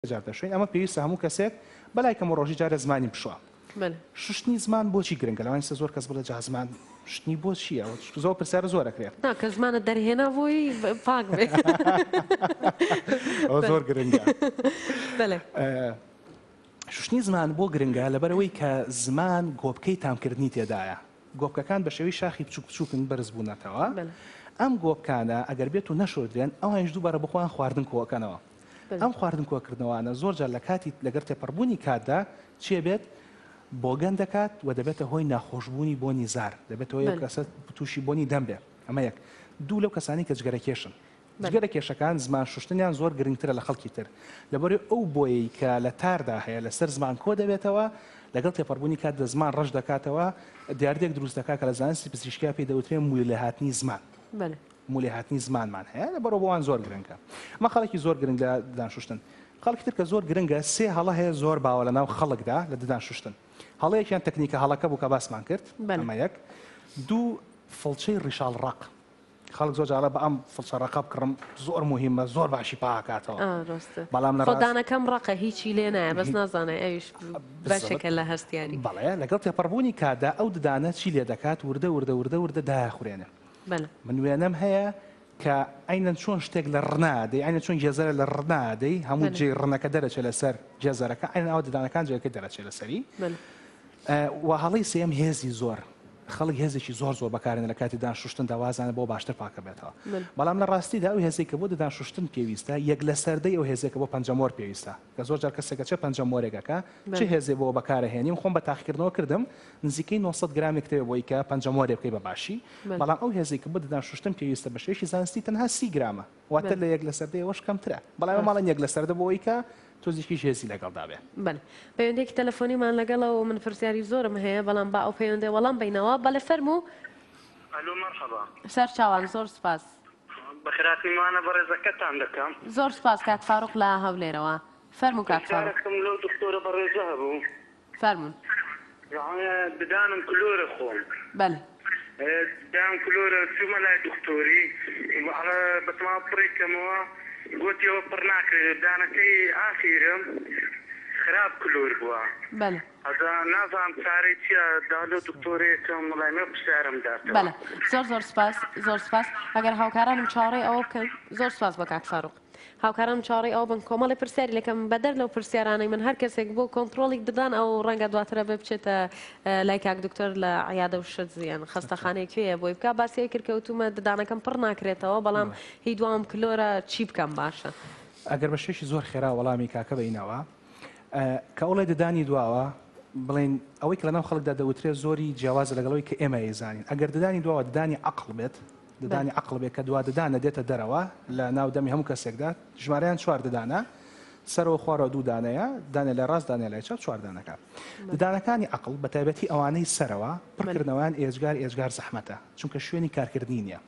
جارتەشوین ئەمە پێویستە هەموو کەسێک بەلای کەم ڕۆژی جارێ زمانی بشوا شوشتنی زمان بۆچی گرنگە لەوانسە زۆر کەس بڵێ جا زمان شتنی بۆ چییە زۆر پرسیارە زۆر ئەکرێت کە زمانە دەرهێنا بۆی پاک زۆر گرنگە شوشتنی زمان بۆ گرنگە لەبەرەوەی کە زمان گۆپکەی تامکردنی تێدایە گۆپکەکان بە شێوی شاخی بچوک بچووکن بەرز بوونەتەوە ئەم گۆپکانە ئەگەر بێت و نەشۆدرێن ئەوانش دووبارە بخۆیان خواردن کۆکەنەوە ئەم خواردن کۆکردنەوانە زۆر جار لە کاتی لەگەر تێپەڕبوونی کاتدا چێ بێت بۆگەن دەکات و دەبێتە هۆی ناخۆشببوونی بۆنی زار دەبێتەوە یە کەسە تووشی بۆنی دەم بێت ئەمە یەک دوو لەو کەسانی کە جگەرە کێشن جگەرە کێشەکان زمان شوشتنیان زۆر گرنگترە لە خەڵکی تر لەبەر ئەو بۆیەی کە لە تاردا هەیە لەسەر زمان کۆ دەبێتەوە لەگەڵ تێپەڕبوونی کات دە زمان ڕەش دەکاتەوە دیاردێک دروست دەکات کە لە زانستی پزیشکیا پێی دەوترێن مویل لە هاتنی زمان مولێهاتنی زمانمان هەیە لە بەڕۆ بۆوان زۆر گرنگە مە خەڵکی زۆر گرنگ لە ددان شوشتن خەڵکی تر کە زۆر گرنگە سێ هەڵە هەیە زۆر باوە لە ناو خەڵکدا لە ددان شوشتن هەڵەیەکیان تەکنیکە هەڵەکە بوو کە باسمان کرد بەمە یەک دوو فڵچەی ڕیشال ڕق خەڵک زۆر جاڵە بە ئەم فڵچە ڕقە بکڕم زۆر مهمە زۆر باشی پاکاتەوە بەڵام لە ڕدانەکەم ڕقە هیچی لێ نایە بەس نازانێ ئەوش بەشێکە لە هەستیاری بەڵێ لەگەڵ تێپەڕبوونی کادا ئەو ددانە چی لێ دەکات وردە وردە وردە وردە داخورێنێ بەلە. من وێنەم هەیە کە عەینەن چۆن شتێک لە ڕنا دەی عەینەن چۆن گێزەرە لە ڕنا دەی هەموو بەلە. جێی ڕنەکە دەرەچێ لەسەر گێزەرەکە عەینەن ئاوا ددانەکان جێگەکەی دەرەچێ لەسەری بەلە. و هەڵەی سێیەم هێزی زۆر خەڵک هێزێکی زۆر زۆر بەکارێنە لە کاتی ددان شوشتندا وازانە بۆ باشتر پاکەبێتەوە بەلە. بەڵام لە ڕاستیدا ئەو هێزەی کە بۆ ددان شوشتن پێویستە یەک لەسەر دەی ئەو هێزەی کە بۆ پەنجەمۆر پێویستە. کە زۆر جار کەسێک ئەچێ پەنجەم وەرێک ئەکا چ هێزێ بۆ بەکار ئەهێنیم خۆم بە تاقیکردنەوە کردم نزیکەی نۆ سەد گرام ئەکرێ بۆی کە پەنجەم وەرێ بکەی بە باشی بەڵام ئەو هێزەی کە بۆ ددان شوشتن پێویستە بە شێوەیەکی زانستی تەنها سی گرامە واتە لە یەک لە سەر دەیەوەش کەمترە بەڵام ئێمە ماڵێن یەک لە سەر دە بۆ ئەوی کە تۆزیکیش هێزی لەگەڵدا بێ بەل پەیوەندێکی تەلەفۆنیمان لەگەڵە و من پرسیاری زۆرم هەیە بەڵام با ئەو پەیوەندێ وەڵام بینەوە بەلێ فەرموو ئەلۆ مەرحەبا سەرچاوان زۆر سوپاس. بە خراپی مانە بەڕێزەکەتان دەکەم. زۆر سوپاس کاک فاروق لە هەولێرەوە. فەرموو کاک فاروق. پرسیارەکم لەو دکتۆرە بەڕێزە هەبوو. فەرموون. ددانم کلۆرە خۆم. بەلی. ددانم کلۆرە چوومە لای دکتۆری ئەڵێ بەتەما پڕی کەمەوە گۆتی ئەوە پڕ ناکرێ ددانەکەی ئاخیرم خراپ کلۆر بووە. بەلی. ئەدا نازانم چارەی چیە دا لۆ دکتۆرێکم لای من پرسیارم داتەوە. بەلێ زۆر زۆر سوپاس زۆر سوپاس ئەگەر هاوکارانم چاوەڕێی ئەوە بکەن زۆر سوپاس بۆ کاک فاروق هاوکارانم چاوەڕێی ئەوە بن کۆمەڵی پرسیاری لەکەم بەدەر لەو پرسیارانەی من هەر کەسێک بۆ کۆنتڕۆڵیک ددان ئەو ڕەنگە دواتر ئەبێ بچێتە لای کاک دکتۆر لە عیادە و شت یان خەستەخانەی کوێیە بۆی بکا باسی ئەوی کرد کەوتومە ددانەکەم پڕ ناکرێتەوە بەڵام هی دواوم کلۆرە چی بکەم باشە؟ ئەگەر بە شێوەیەکی زۆر خێرا وەڵامی کاکە بەینەوە. کە ئەوڵێ ددانی دواوە بڵین ئەوەی کە لەناو خەڵکدا دەوترێت زۆری جیاواز لەگەڵەوەی کە ئێمە ئێزانین ئەگەر ددانی دواوە ددانی عقل بێت ددانی عقل بێت کە دوا ددانە دێتە دەرەوە لە ناو دەمی هەموو کەسێکدا ژمارەیان چوار ددانە سەرەوە خوارەوە دوو دانەیە دانێ لە ڕاست دانێ لای چاپ چواردانەکە ددانەکانی عقل بە تایبەتی ئەوانەی سەرەوە پڕکردنەوەیان ئێجگار ئێجگار زەحمەتە چونکە شوێنی کارکردنی نیە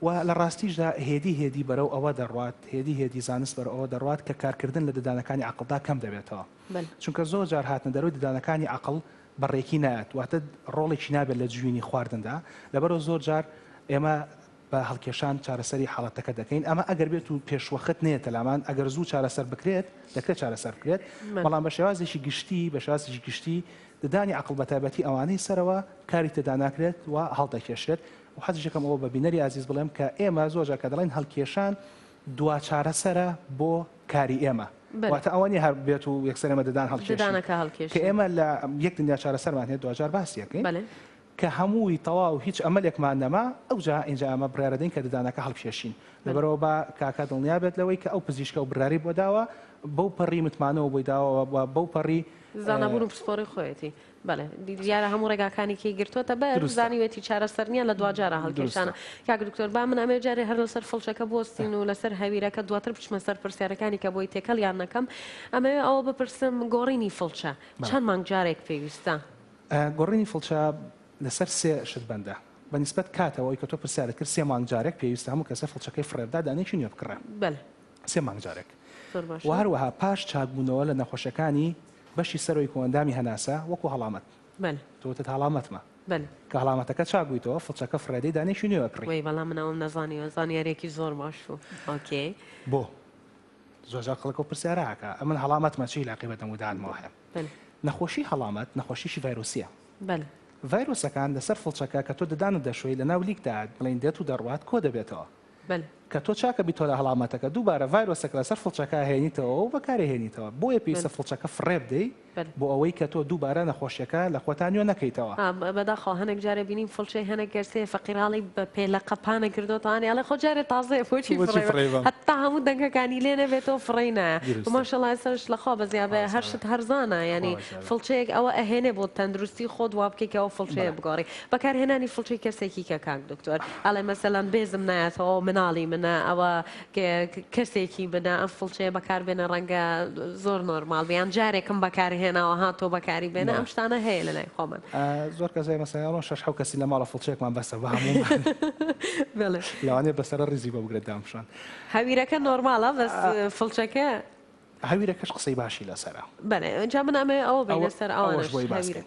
و لە ڕاستیشدا هێدی هێدی بەرەو ئەوە دەڕوات، هێدی هێدی زانست بەرەو ئەوە دەڕوات کە کارکردن لە ددانەکانی عەقڵدا کەم دەبێتەوە. چونکە زۆر جار هاتنە دەرەوەی ددانەکانی عەقڵ بە ڕێکی نایەت، واتە ڕۆڵێکی نابێت لە جوینی خواردندا، لەبەرئەوە زۆر جار ئێمە بە هەڵکێشان چارەسەری حاڵەتەکە دەکەین، ئەمە ئەگەر بێت و پێشوەخت نەیەتە لامان، ئەگەر زوو چارەسەر بکرێت، دەکرێت چارەسەر بکرێت، بەڵام بە شێوازێکی گشتی، بە شێوازێکی گشتی ددانی عەقڵ بە تایبەتی ئەوانەی سەرەوە کاری تێدا ناکرێت و هەڵدەکێشرێت، و حەزیشەکەم ئەوە بە بینەری ئازیز بڵێم کە ئێمە زۆر جار کە دەڵێن هەڵکێشان دوا چارەسەرە بۆ کاری ئێمە، واتە ئەوە نییە هەر بێت و یەکسەر ئێمە ددان هەڵکێشین، کە ئێمە لە یەک دنیا چارەسەرمان هەیە، دواجار باسی ئەکەین کە هەمووی تەواو هیچ ئەمەلێکمان نەما، ئەوجا ئینجا ئەمە بڕیار ئەدەین کە ددانەکە هەڵکێشین، لەبەرئەوە با کاکە دڵنیا بێت لەوەی کە ئەو پزیشکە و بڕیاری بۆ داوە بەو پەڕی متمانەوە بۆی داوە و بەو پەڕی زانابوون و پسپۆڕی خۆیەتی. بەڵێ دیارە هەموو ڕێگاکانی کەی گرتووەتە بەر دروستە. زانیوێتی چارەسەر نییە لە دواجارە هەڵکێشانە دروستە. کاک دکتۆر با من ئەمێ جارێ هەر لەسەر فڵچەکە بوەستین و لەسەر هەویرەکە دواتر بچمە سەر پرسیارەکانی کە بۆی تێکەڵیان نەکەم ئەمەوێ ئەوە بپرسم گۆڕینی فڵچە بەڵێ. چەند مانگ جارێک پێویستە؟ ئە، گۆڕینی فڵچە لەسەر سێ شت بەندە بە نیسبەت کاتەوە ئەوەی کە تۆ پرسیارت کرد سێ مانگ جارێک پێویستە هەموو کەسێ فڵچەکەی فڕێ بدا دانەیەکی نوێ بکڕێ بەلێ. سێ مانگ جارێک زۆر و باشە. هەروەها پاش چاکبوونەوە لە نەخۆشیەکانی بەشی سەرۆی کۆئەندامی هەناسە وەکو هەڵامەت. بەلە. تۆ وتت هەڵامەتمە. بەلە. کە هەڵامەتەکە چاک بویتەوە فڵچەکە فڕێدەی دانەیەکی نوێ ئەکڕی. وەی بەڵام من ئەوەم نەزانیوە زانیاریەکی زۆر باش بوو ئۆکێ. بۆ زۆر جار خەڵک ئەو پرسیارە ئەکا ئەمن هەڵامەتمە چی ئیلاقەی بە دەمودانمەوە هەیە. بەلە. نەخۆشی هەڵامەت نەخۆشیەکی ڤایرۆسیە. بەلە. ڤایرۆسەکان لەسەر فڵچەکە کە تۆ ددانت دەشۆی لەناو لیکدا بڵێین دێت و دەڕوات کۆ دەبێتەوە. بەلێ. کە تۆ چاکە بیتۆلە هەڵامەتەکە دووبارە ڤایرۆسەکە لەسەر فڵچەکە ئەهێنیتەوە و بەکارئەهێنیتەوە بۆیە پێویستە فڵچەکە فڕێ بدەی بۆ ئەوەی کە تۆ دووبارە نەخۆشیەکە لە خۆتا نوێ نەکەیتەوە. بەداخەوە هەنێک جارێ بینیم فڵچەی هەنێک کەسێ فەقیراڵی بە پێلە قەپانە کردۆتەوانێ ئەڵێ خۆ جارێ تازەیە بۆچی فڕێبەم هەتا هەموو دەنگەکانی لێ نەبێتەوە فڕێی نایە ماشەڵڵا ئێستاش لەخوا بەزیابێ هەر شت هەرزانە یانی فڵچەیەک ئەوە ئەهێنێ بۆ تەندروستی خۆت وا بکەی کە ئەو فڵچەیە بگۆڕی بەکارهێنانی فڵچەی کەرسێکی کە کاک دکتۆر ئەڵێ مەسەلەن بێزم نایەتەوە مناڵی منە ئەوە کەرسێکی منە ئەم فڵچەیە بەکار بێنە ڕەنگە زۆر نۆرمال بیان جارێکم بەکارهێناوە ها تۆ بەکاری بێنە ئەم شتانە هەیە لە لای خۆمان زۆر کەسای مەسەیانەوە شش حو کەسی لە ماڵە فڵچێکمان بەسە بە هەموو لەوانێ بەسەر ڕیزی بۆ بگرێت دامشان هەویرەکە نۆرمالە بەس فڵچەکە هەویرەکەش قسەی باشی لەسەرە بەێ جا من ئەمێ ئەوە بە لەسەر ئەوەش بۆی باسکرێت.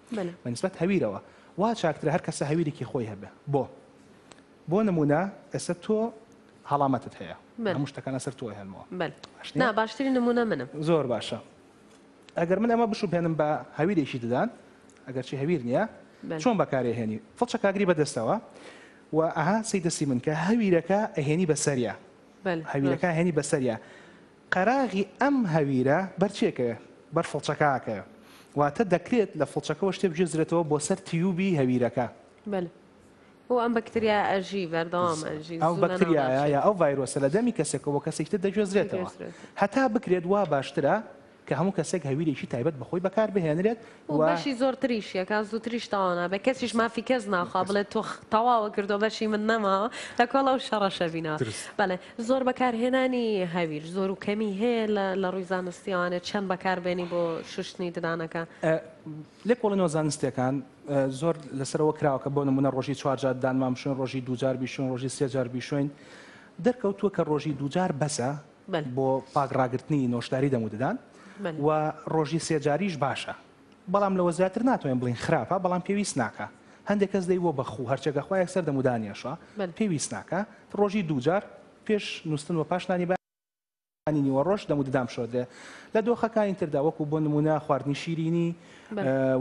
منە. بە نیسبەت هەویرەوە وا چاکترە هەر کەسە هەویرێکی خۆی هەبێ بۆ بۆ نموونە ئێستا تۆ هەڵامەتت هەیە من. هەموو شتەکان لەسەر تۆ هێنمەوە بەل باش نا نییە؟ باشترین نمونە منم. زۆر باشە ئەگەر من ئەمە بشوبهێنم بە هەویرێکی ددان ئەگەر چی هەویر نییە بەل چۆن بەکارێ هێنی فڵچەک ئاگری بە دەستەوە و ئەها سەی دەستی من کە هەویرەکە ئەهێنی بەسەریا بەل هەویرەکە راست. هێنی بەسەریا قەراغی ئەم هەویرە بەرچێکەوێ، بەر فڵچەکاکەوێ، واتە دەکرێت لە فڵچەکەوە شتێ بگوێزرێتەوە بۆ سەر تیوبی هەویرەکە. بەلێ بۆ ئەم بەکتریایە ئەژی، بەردەوام ئەژی. ئەو بەکتریایە یا ئەو ڤایرۆسە لە دەمی کەسێکەوە بۆ کەسێکی تر دەگوێزرێتەوە. هەتا بکرێت وا باشترە کە هەموو کەسێک هەویرێکی تایبەت بە خۆی بەکار بهێنرێت، و بەشی زۆرتریش یەکا زووتریش تەواو نابێت کەسیش مافی کەس ناخوا بڵێت تۆ تەواوە کردو بەشی من نەماوە لە کۆڵ ئەو شەڕە شەبینەوە بەڵێ زۆر بەکارهێنانی هەویر زۆر و کەمی هەیە لە ڕووی زانستی ئەوانێت چەند بەکاربێنی بۆ شوشتنی ددانەکە لێکۆڵینەوە زانستیەکان زۆر لەسەرەوە کراوە کە بۆ نمونە ڕۆژی چوارجار دانمان بشون ڕۆژی دوجار بیشون ڕۆژی سێجار بیشوین دەرکەوتووە کە ڕۆژی دوجار بەسە بۆ پاک ڕاگرتنی نۆشداری دەم و ددان و ڕۆژی سێ جاریش باشە بەڵام لەوە زیاتر ناتوانین بڵین خراپە بەڵام پێویست ناکە هەندێک کەس دەی بۆ بەخو هەرچێکە خۆ یەکسەر دەم و دانیشە پێویست ناکە ڕۆژی دووجار پێش نووسن و پاشنانی بە نیوە ڕۆژ دەم و ددام شۆدرێ لە دۆخەکانی تردا وەکو بۆ نمونە خواردنی شیرینی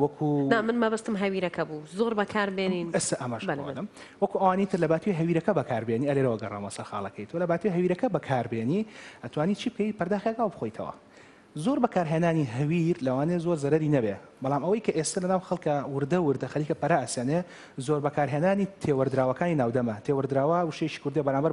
وەکو نا من مەبەستم هەویرەکە بوو زۆر بەکاربێنین ئەسە ئەمەش بەڵێ، بەڵێ. بەڵێ. وەکو ئەوانی تر لەباتوی هەویرەکە بەکاربێنی ئەلێرەوە گەڕامەوە سەر خاڵەکەی تۆ لەباتوی هەویرەکە بەکاربێنی ئەتوانی چی بکەی پەرداخێک ئاو بخۆیتەوە زۆر بەکارهێنانی هەویر لەوانێ زۆر زەرەری نەبێ بەڵام ئەوەی کە ئێستا لەناو خەڵکە وردە وردە خەریکە پەرە ئەسەنێ زۆر بەکارهێنانی تێوەردراوەکانی ناودەمە تێوەردراوە وشەیەکی کوردیە بەرامبەر